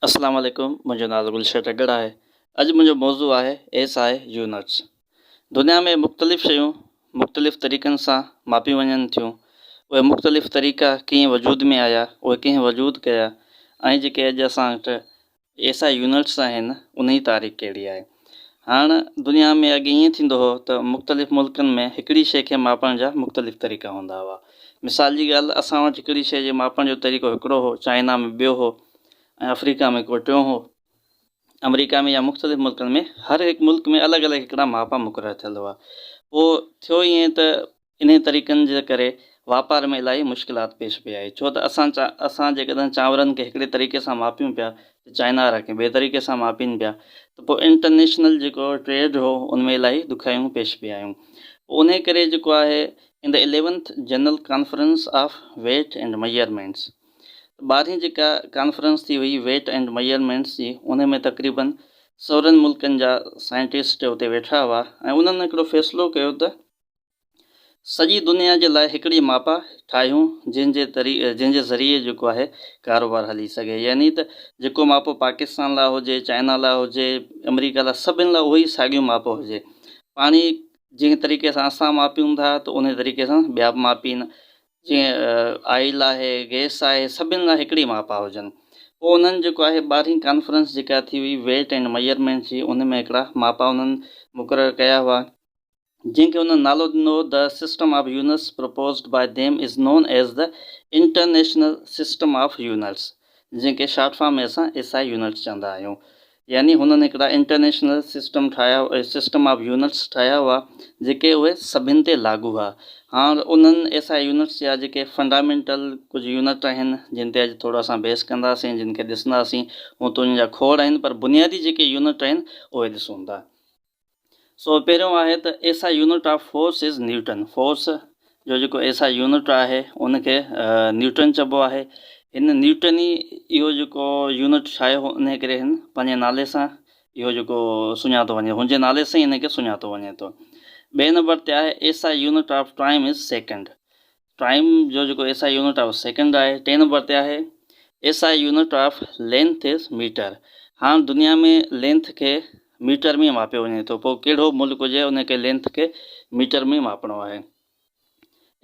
اسلام عليڪم منهنجو نالو گلشير ٽڳڙ آهي اڄ منهنجو موضوع آهي ايس آء يونٽس دنيا ۾ مختلف شيون مختلف طريقن سان ماپيون وڃن ٿيون اهي مختلف طريقا ڪيئن وجود ۾ آيا اهي ڪنهن وجود ڪيا ۽ جيڪي اڄ اسان وٽ ايس آء يونٽس آهن انهي تاريخ ڪهڙي آهي هاڻ دنيا ۾ اڳي ائين ٿيندو هو ته مختلف ملڪن ۾ هڪڙي شيء کي ماپڻ جا مختلف طريقا هوندا هئا. مثال جي ڳالهه اسان وٽ هڪڙي شيء جي ماپڻ جو طريقو هڪڙو هو، چائنا ۾ ٻيو هو ۽ آفريڪا ۾ ڪو ٽيون هو. آمريڪا ۾ يا مختلف ملڪن ۾ هر هڪ ملڪ ۾ الڳ الڳ هڪڙا ماپا مقرر ٿيل هئا. پوء ٿيو ائين ته انهي طريقن جي ڪري واپار ۾ الاهي مشڪلات پيش پئي آئي ڇو ته اسان اسان جيڪڏهن چانورن کي هڪڙي طريقي سان ماپيون پيا ته چائنا وارا ڪنهن ٻئي طريقي سان ماپين پيا ته پوء انٽرنيشنل جيڪو ٽريڊ هو ان ۾ الاهي ڏکيائيون پيش پئي آيون پوء انهي ڪري جيڪو آهي in the eleventh general conference of weight and measurements ٻارهين جيڪا ڪانفرنس ٿي هئي ويٽ اينڊ ميئرمينٽس جي انهي ۾ تقريبن سورن ملڪن جا سائنٽسٽ اتي ويٺا هئا ۽ انهن هڪڙو فيصلو ڪيو ته سڄي دنيا جي لاء هڪڙي ماپا ٺاهيون جنهن جي جنهن جي ذريعي جيڪو آهي ڪاروبار هلي سگهي يعني ته جيڪو ماپو پاڪستان لاء هجي چائنا لاء هجي امريڪا لاء سڀن لاء اهو ئي ساڳيو ماپو هجي پاڻي جنهن طريقي سان اسان ماپيون ٿا ته انهي طريقي سان ٻيا به ماپين جيئن آئل آهي گيس آهي سڀن لاء هڪڙي ماپا هجن پوء انهن جيڪو آهي ٻارهين ڪانفرنس جيڪا ٿي هئي ويٽ اينڊ ميجرمينٽ جي ان ۾ هڪڙا ماپا انهن مقرر ڪيا هئا جنهن کي هنن نالو ڏنو The System of Units Proposed by Them is Known as the International System of Units جنهن کي شارٽ فارم ۾ اسان ايس آء يونٽس چوندا آهيون. يعني هنن هڪڙا انٽرنيشنل سسٽم ٺاهيا System of Units ٺاهيا هئا جيڪي اهي سڀن تي لاڳو هئا. هاڻ انهن ايس آء يونٽس جا جيڪي فنڊامينٽل ڪجهه يونٽ آهن جن تي اڄ ٿورو اسان بحث ڪنداسين جن کي ڏسنداسين هونئن ته انهن جا کوڙ آهن پر بنيادي جيڪي يونٽ آهن اهي ڏسون ٿا. سو پهريون آهي ته SI unit of force is newton force جو جيڪو SI يونٽ آهي ان کي نيوٽن چئبو آهي هن نيوٽن ئي اهو جيڪو يونٽ ٺاهيو هو ان ڪري هن پنهنجي نالي سان اهو جيڪو سڃاتو وڃي هن جي نالي سان ئي هن کي سڃاتو وڃي ٿو ٻئي نمبر تي آهي SI unit of time is second time جو جيڪو S I unit of second آهي ٽئين نمبر تي آهي S I unit of length is metre هاڻ دنيا ۾ لينٿ کي ميٽر ۾ ماپيو وڃي ٿو پوء ڪهڙو ملڪ هجي ان کي لينٿ کي ميٽر ۾ ماپڻو آهي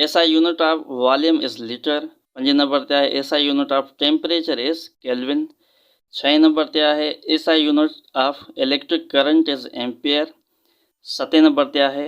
S I unit of volume is litre پنجين نمبر تي آهي S I unit of temperature is kelvin ڇهين نمبر تي آهي S I unit of electric current is ampere ستين نمبر تي آهي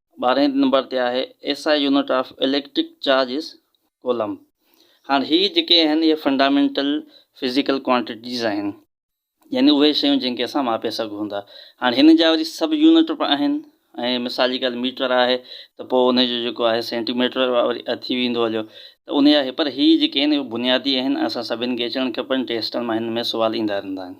ٻارهين نمبر تي آهي S I unit of electric charge is coulomb هاڻ هي جيڪي آهن اهي فنڊامينٽل فزيڪل ڪوانٽيٽيز آهن يعني اهي شيون جن کي اسان ماپي سگهون ٿا هاڻ هن جا وري سب يونٽ به آهن ۽ مثال جي ڳالهه ميٽر آهي ته پوء ان جو جيڪو آهي سينٽي ميٽر وري ٿي ويندو هليو ته ان جا پر هي جيڪي آهن اهي بنيادي آهن اسان سڀني کي اچڻ کپن ٽيسٽن مان هن ۾ سوال ايندا رهندا آهن.